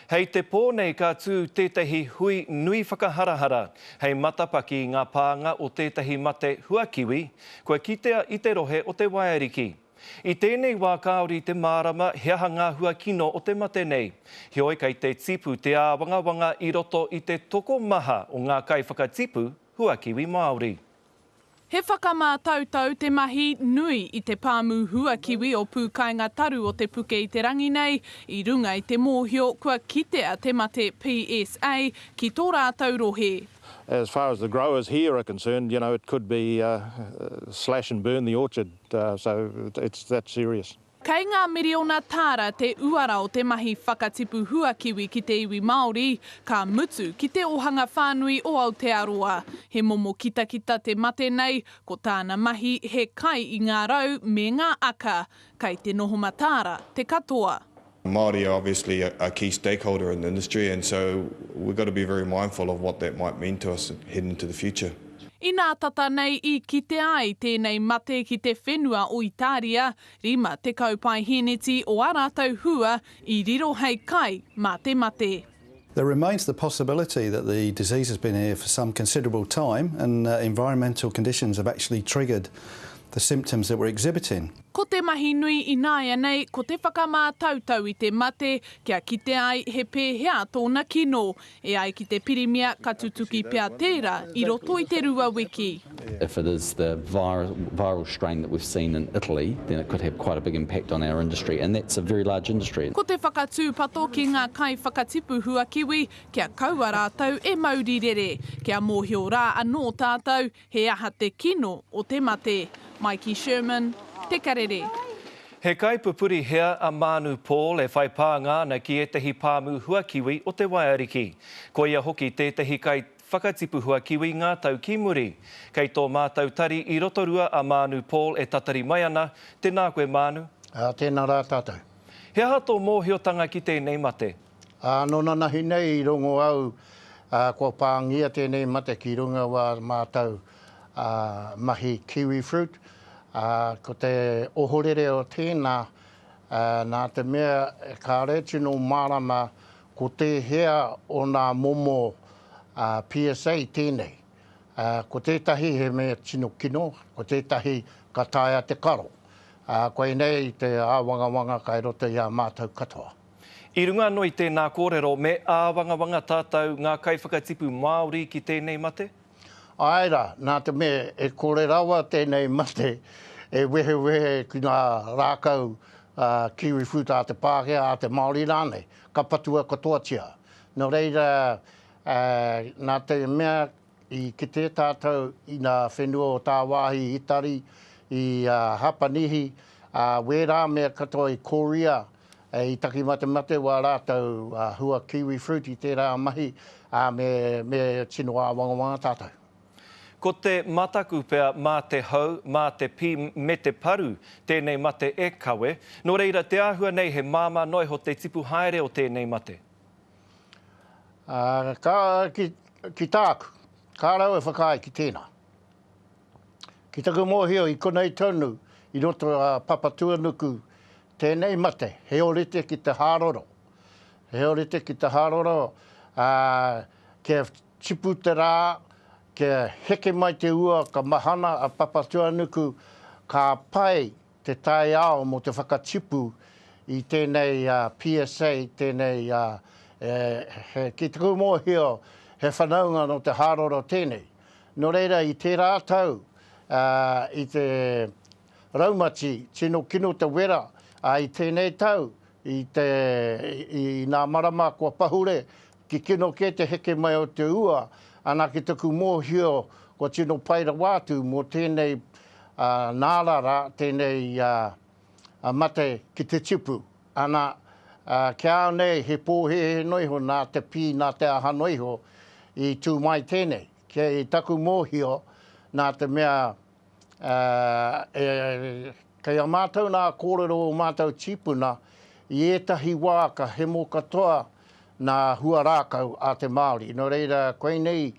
Hei te pō nei ka tū tētahi hui nui whakaharahara hei matapaki i ngā pānga o tētahi mate huakiwi kua kitea i te rohe o Te Waeariki. I tēnei wā kāore te mārama he aha ngā hua kino o te mate nei, heoi kei te tipu te āwangawanga i roto i te tokomaha o ngā kaiwhakatipu huakiwi Māori. He whakamātautau te mahi nui i te pāmu hua kiwi o Pūkainga Taru o Te Puke i te rangi nei i runga i te mōhio kua kitea te mate PSA ki tō rātou rohe. As far as the growers here are concerned, you know, it could be slash and burn the orchard, so it's that serious. Kei ngā miriona tāra te uara o te mahi whakatipu hua kiwi ki te iwi Māori, ka mutu ki te ohanga whānui o Aotearoa. He momo kitakita te mate nei, ko tāna mahi he kai i ngā rau me ngā aka. Kei te noho mataara te katoa. Māori are obviously a key stakeholder in the industry and so we've got to be very mindful of what that might mean to us heading into the future. Inā tata nei i kitea ai tēnei mate ki te whenua o Itāria, 50 paeheneti o ā rātou hua i riro hei kai mā te mate. There remains the possibility that the disease has been here for some considerable time and environmental conditions have actually triggered the symptoms that we're exhibiting. Ko te mahi nui ināianei ko te whakamātautau i te mate kia kite ai he pēhea tōna kino, E ai ki te Pirimia ka tutuki pea tēra i roto i te rua wiki. If it is the viral strain that we've seen in Italy, then it could have quite a big impact on our industry, and that's a very large industry. Ko te whakatūpato ki ngā kaiwhakatipu huakiwi kia kaua rātou e mauri rere, kia mōhio rā anō tātou He aha te kino o te mate? Maiki Sherman, Te Karere. He kaipupuri hea a Mānu Paul e whai pānga ana ki ētahi pāmu huakiwi o te Waiariki? Koia hoki tētahi kai whakatipu huakiwi ngā tau ki muri. Kei tō mātou tari i Rotorua a Mānu Paul e tatari mai ana, tēnā koe Mānu. Ā, tēnā rā tātou. He aha tō mōhiotanga ki tēnei mate? Ā, nō nanahi nei i rongo au, ā, kua pāngia tēnei mate ki runga wā mātou, ā, mahi kiwifruit, ā, ko te ohorere o tēnā, ā, nā te mea kāore tino mārama ko tēhea o nā momo, ā, PSA tēnei. Ā, ko tētahi he mea tino kino, ko tētahi ka taea te karo. Ā, koinei te āwangawanga kai roto i a mātou katoa. I runga anō i tēnā kōrero, me āwangawanga tātou ngā kaiwhakatipu Māori ki tēnei mate? Āe rā, nā te mea e kore rawa tēnei mate e wehewehe ki ngā rākau kiwifruit a te Pākehā, a te Māori rānei, ka patua katoatia. Nō reira, nā te mea I kite tātou i ngā whenua o tāwāhi Itari, i a Hapanihi, ā, wērā mea katoa i Korea, i takimate-mate wā rātou hua kiwi fruit i tērā mahi, ā, me, me tino āwangawanga tātou. Ko te mataku pea mā te hau, mā te pī, me te paru tēnei mate e kawe. Nō reira, te āhua nei he māmā noa iho te tipu haere o tēnei mate. Ā, ka, ki, ki tāku, kā rau e whakaae ki tēnā. Ki taku mōhio i konei tonu i roto a Papatūanuku tēnei mate he orite ki te hāroro, he orite ki te hāroro, ā, kia tipu te rā, kia heke mai te ua ka mahana a Papatūanuku, ka pai te taiao mō te whakatipu i tēnei PSA, tēnei he, ki taku mōhio, he whanaunga nō te hāroro tēnei. Nō reira, i tērā tau, i te raumati, tino kino te wera, ā, i tēnei tau, i te, i ngā marama kua pahure, Ki kino kē te heke mai o te ua, ana ki taku mōhio kua tino pai rawa atu mō tēnei nārara, tēnei mate ki te tipu. Ana, kia ao nei he pōhēhē noa iho nā te pī, nā te aha noa iho i tū mai tēnei. Kei taku mōhio, nā te mea Kei a mātou nā kōrero o mātou tīpuna i ētahi wā ka hemo katoa nā hua rākau a te Māori. Nō reira, koinei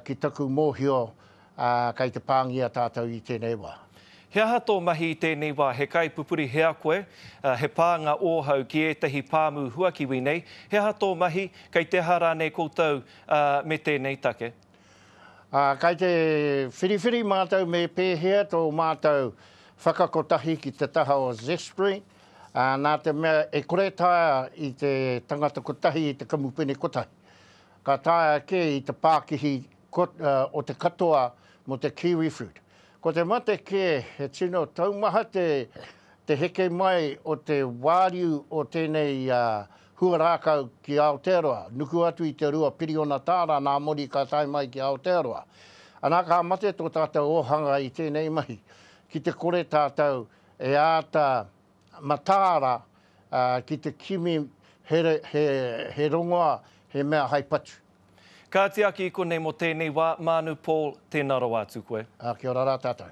ki taku mōhio kei te pāngia tātou i tēnei wā. He aha tō mahi i tēnei wā? He kaipupuri hea koe? He pānga ōhau ki ētahi pāmu huakiwi nei? He aha tō mahi? Kei te aha rānei koutou me tēnei take? Ā, kei te whiriwhiri mātou me pēhea tō mātou whakakotahi ki te taha o Zespri, ā, nā te mea e kore taea i te tangata kotahi i te kamupene kotahi. Ka taea kē i te pākihi o te katoa mō te kiwifruit. Ko te mate kē, he tino taumaha te heke mai o te wāriu o tēnei Huarākau ki Aotearoa, nuku atu i te rua piriona tāra nā Mori ka tae mai ki Aotearoa. Anā, ka mate tō tātou ōhanga i tēnei mahi, ki te kore tātou e āta mataara ki te kimi he rongoā, he mea hai patu. Kāti aki i konei mō tēnei wā, Mānu Paul, tēnā rawa atu koe. Ā, kia ora rā tātou.